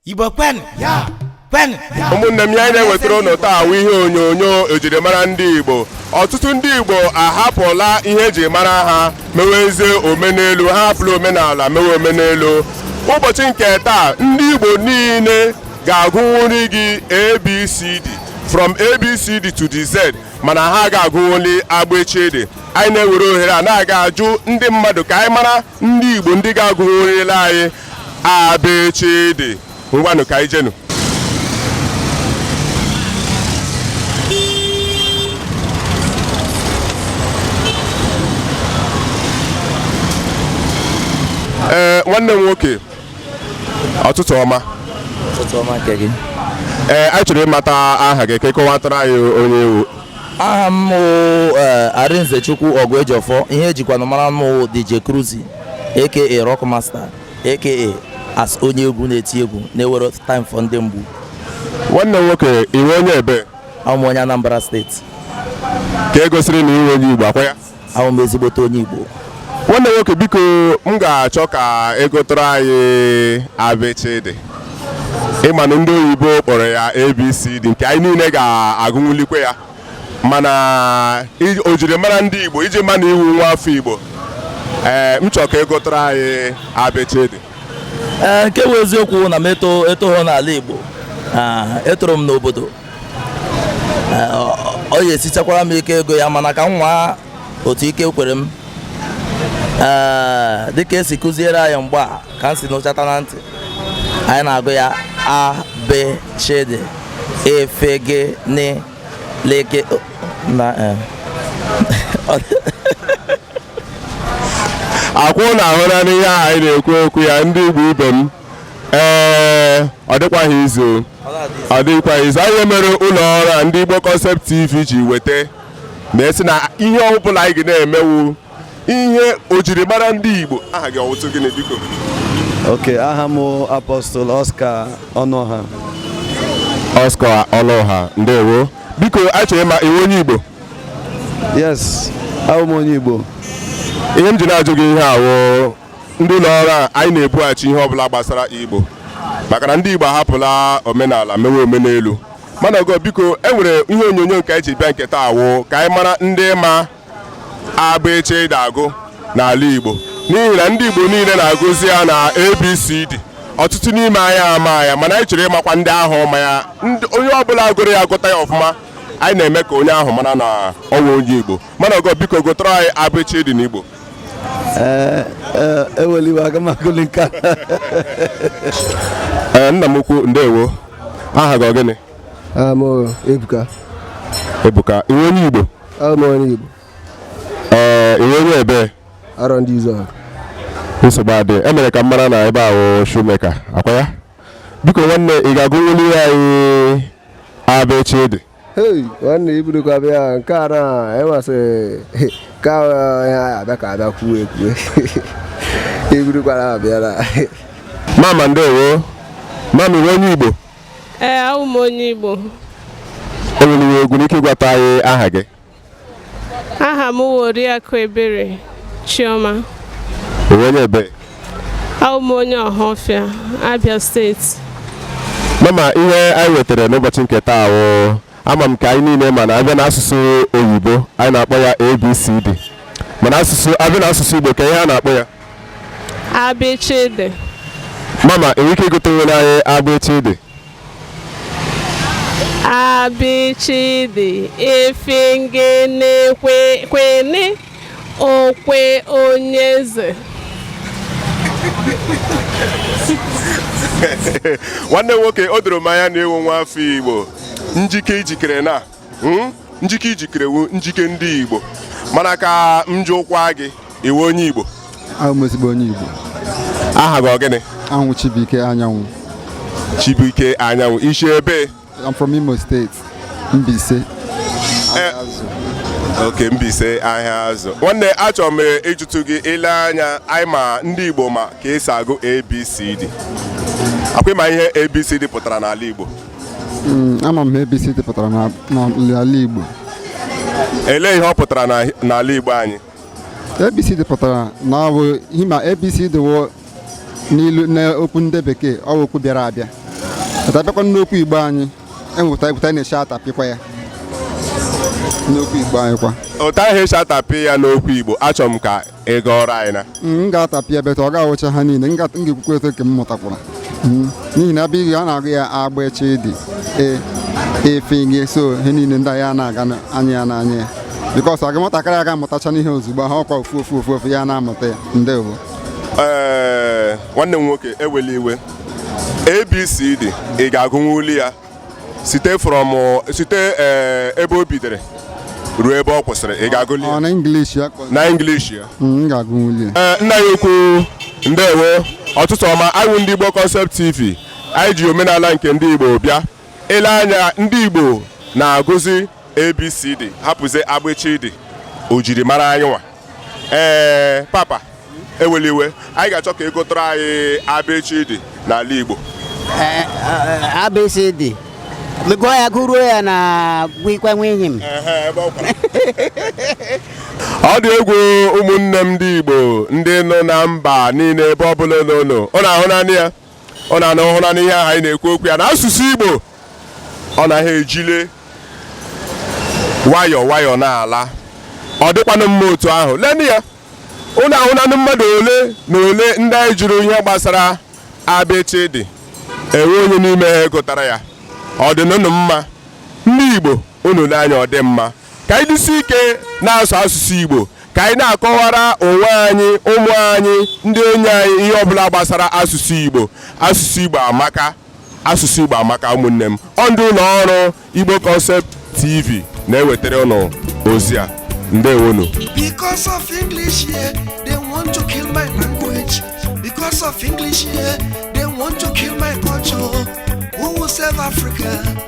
Igbo kwenụ ya kwenụ ya ụmụnne m ihe anyị na-ewetara ụnụ taa wụ ihe onyonyo ejirimara ndị Igbo ọtụtụ ndị Igbo ahapụla ihe eji mara ha mewezie omenelu ha ahapụla omenala mewe omenelu ụbọchị nke taa ndị Igbo niile ga-agụnwuri gị ABCD from ABCD to the Z mana ha ga-agụnwuli abịchịdị anyị na-ewere ohere a na-aga ajụ ndị mmadụ ka anyị mara ndị Igbo ndị ga-agụnwurila anyị abịchịdị ngwanụ ka anyị jenụ ee eh, nwanne m nwoke ọtụtụ ọma ọtụtụ ọma nke gị ee eh, anyị chọrọ ịmata aha gị ka ị kọwatara anyị onye ị wụ aha m eh, Arinzechukwu Oguejiofor ihe e jikwanụ mara m DJ Cruzy aka rock master aka as onye egwu na-eti egwu na-ewere time for ndị mgbu nwanne nwoke ị wụ onye ebee awụ m onye Anambra steeti ka e gosiri na ị wụ onye Igbo ọkwa ya awụ m ezigbote onye Igbo nwanne nwoke biko m ga-achọ ka ị gụtụọrọ anyị abịchịdị ị manụ ndị oyibo kpọrọ ya abcd nke anyị niile ga-agụnwulikwe ya mana ojirimara ndị Igbo iji ma na ị wụ nwa afọ Igbo ee m chọrọ ka ị gụtụọrọ anyị abịchịdị ee nke bụ eziokwu na m eto etoghọ n'ala Igbo etoro m n'obodo ọ ya-esichakwara m ike ịgụ ya mana ka m nwaa otu ike kwere m ee dịka esi kụziere anyị mgbe a ka m si n'ụchata na ntị anyị na-agụ ya a bị chị dị e fị gị nị lị kị o- na eh. ọkwa ụnụ ahụlanụ ihe ahụ anyị na-ekwu okwu ya ndị igbo ibe m ee ọ dịkwaghị easy ọ dịkwaghị easy ọ ya mere ụlọ ọrụ a ndị Igbo Concept TV ji weta ma sị na ihe ọ bụla anyị ga na-eme wụ ihe ojirimara ndị Igbo aha gị ọ wụtụ gịnị biko okay aha m Apostle Oscar Ọnụọha Oscar Ọnụọha ndewo biko achọrọ ịma ị wụ onye Igbo yes abụ m onye Igbo ihe m ji na-ajụ gị ihe a wụ ndị ụlọ ọrụ a anyị na-ebughachi ihe ọbụla gbasara Igbo maka na ndị Igbo ahapụla omenala mewe omenelu mana ogo biko e nwere ihe onyonyo nke anyị ji bịa nke taa wụ ka anyị mara ndị ma abịchịdị agụ n'ala Igbo n'ihi na ndị Igbo niile na-agụzi ya na ABCD ọtụtụ n'ime anyị ama ya mana anyị chọrọ ịmakwa ndị ahụ ma ya onye ọbụla gụrụ ya agụta ya ọfụma anyị na-eme ka onye ahụ mara na ọ wụ onye Igbo mana ogo biko gụtara anyị abịchịdị n'Igbo ee eh, eh, ewela iwe eh, e aga m agụli nke a nna m ukwu ndewo aha gị ọ gịnị ebuka ebuka ị wụ onye igbo onye igbo ee ị wụ onye ebe Arondizuogu nsogbu adị e mere ka m mara na ebe a wụ shoemaker ọkwa ya biko nwanne ị ga-agụnwuli anyị abịchịdị hei nwanne ibudokwa bịa nke a na enwasị ka ya abịa ka abịa kwuo ekwue ibudokwara abịara mama ndewo mama ị wụ onye igbo ee awụ m onye igbo ị nwere egwu n'ike ịgwata anyị aha gị aha m wụ Oriakụ Ebere Chioma ị wụ onye ebe abụ m onye Ọhafịa Abia steeti mama ihe anyị wetara n'ụbọchị nke taa wụ ama m ka anyị niile ma na a bịa n'asụsụ oyibo anyị na-akpọ ya ABCD mana asụsụ a bịa n'asụsụ Igbo ka ihe a na-akpọ ya abịchịdị mama ị nwere ike ịgụtanwuru anyị abịchịdị abịchịdị ifingene kwene okwe onyeze nwanne nwoke o doro m anya na ị wụ nwa afọ igbo njike i jikere na Hmm? njike i jikere wụ njike ndị Igbo mana ka m jụkwa gị ị wụ onye Igbo awụ m ezigbo onye Igbo aha gị ọ gịnị awụ m Chibuike Anyanwụ Chibuike Anyanwụ i si ebe I'm from Imo State Mbaise eh, okay Mbaise Ahiazu nwanne achọrọ m ịjụtụ gị ị lee anya anyị ma ndị Igbo ma ka e si agụ ABCD ọkwa ị ma ihe abcd pụtara n'ala igbo Hmm, ama m ihe ABCD pụtara n'ala Igbo elee ihe ọ pụtara n'ala Igbo anyị ABCD pụtara na ọ bụ ihe ma ABCD wụ n'ilu n'okwu ndị bekee ọ bụ okwu bịara abịa a tapịakwa n'okwu Igbo anyị e nwe etu a na-esi atapịkwa ya n'okwu Igbo anyị ọkwa otu ahụ e si atapị ya n'okwu Igbo achọrọ m ka ị gụọrọ anyị na mm, m ga-atapịa but ọ ga-awụcha ha niile m ga-ekwukwa etu nke m mụtakwara mm, n'ihi na a bịa ihe a na-agụ ya abịchịdị e, fị gị so ihe niile ndị ya na-aga anya ya n'anya ya because aga nwatakịrị aga amụtacha n'ihe ozugbo ha ọkwa ofu ofu ofu ofu ya na-amụta ya ndewo ee nwanne m nwoke ewela iwe abcd ị ga-agụnwuli ya site from site eh, ebe o bidere ruo ebe ọ kwụsịrị ị ga-agụli ya na English ya na English ya mm, eh, nna anyị ukwu ndewo ọtụtụ ọma anyị ndị Igbo Concept TV anyị ji omenala nke ndị Igbo bịa ile anya ndị Igbo na-agụzi ABCD hapụzie abịchịdị o jiri mara anyị nwa ee papa ewela iwe anyị ga-achọ ka ị gụtara anyị abịchịdị n'ala Igbo Eh, eh, abcd gụọ ya gụruo ya na gwikwa nwe enyi m ọ dị egwu ụmụnne m ndị Igbo ndị nọ na mba niile ebe ọ bụla ụnụ nọ ụnụ ahụnanụ ya ụnụ ahụnanụ ihe ahụ anyị na-ekwu okwu ya na asụsụ Igbo ọ naghị ejile nwayọọ nwayọọ na-ala ọ dịkwanụ mma otu ahụ lenụ ya ụnụ ahụnanụ mmadụ ole na ole ndị anyị jụrụ ihe gbasara abịchịdị enwe onye n'ime ha gụtara ya ọ dị ụnụ mma ndị Igbo unu lee anya ọ dị mma ka anyị jisie ike na-asụ asụsụ Igbo ka anyị na-akọwara onwe anyị ụmụ anyị ndị enyi anyị ihe ọbụla gbasara asụsụ Igbo asụsụ Igbo amaka asụsụ Igbo amaka ụmụnne m ọ ndị ụlọ ọrụ Igbo Concept TV na-ewetara ụnụ ozi a ndewonu because of English here they want to kill my language because of English here they want to kill my culture who will save Africa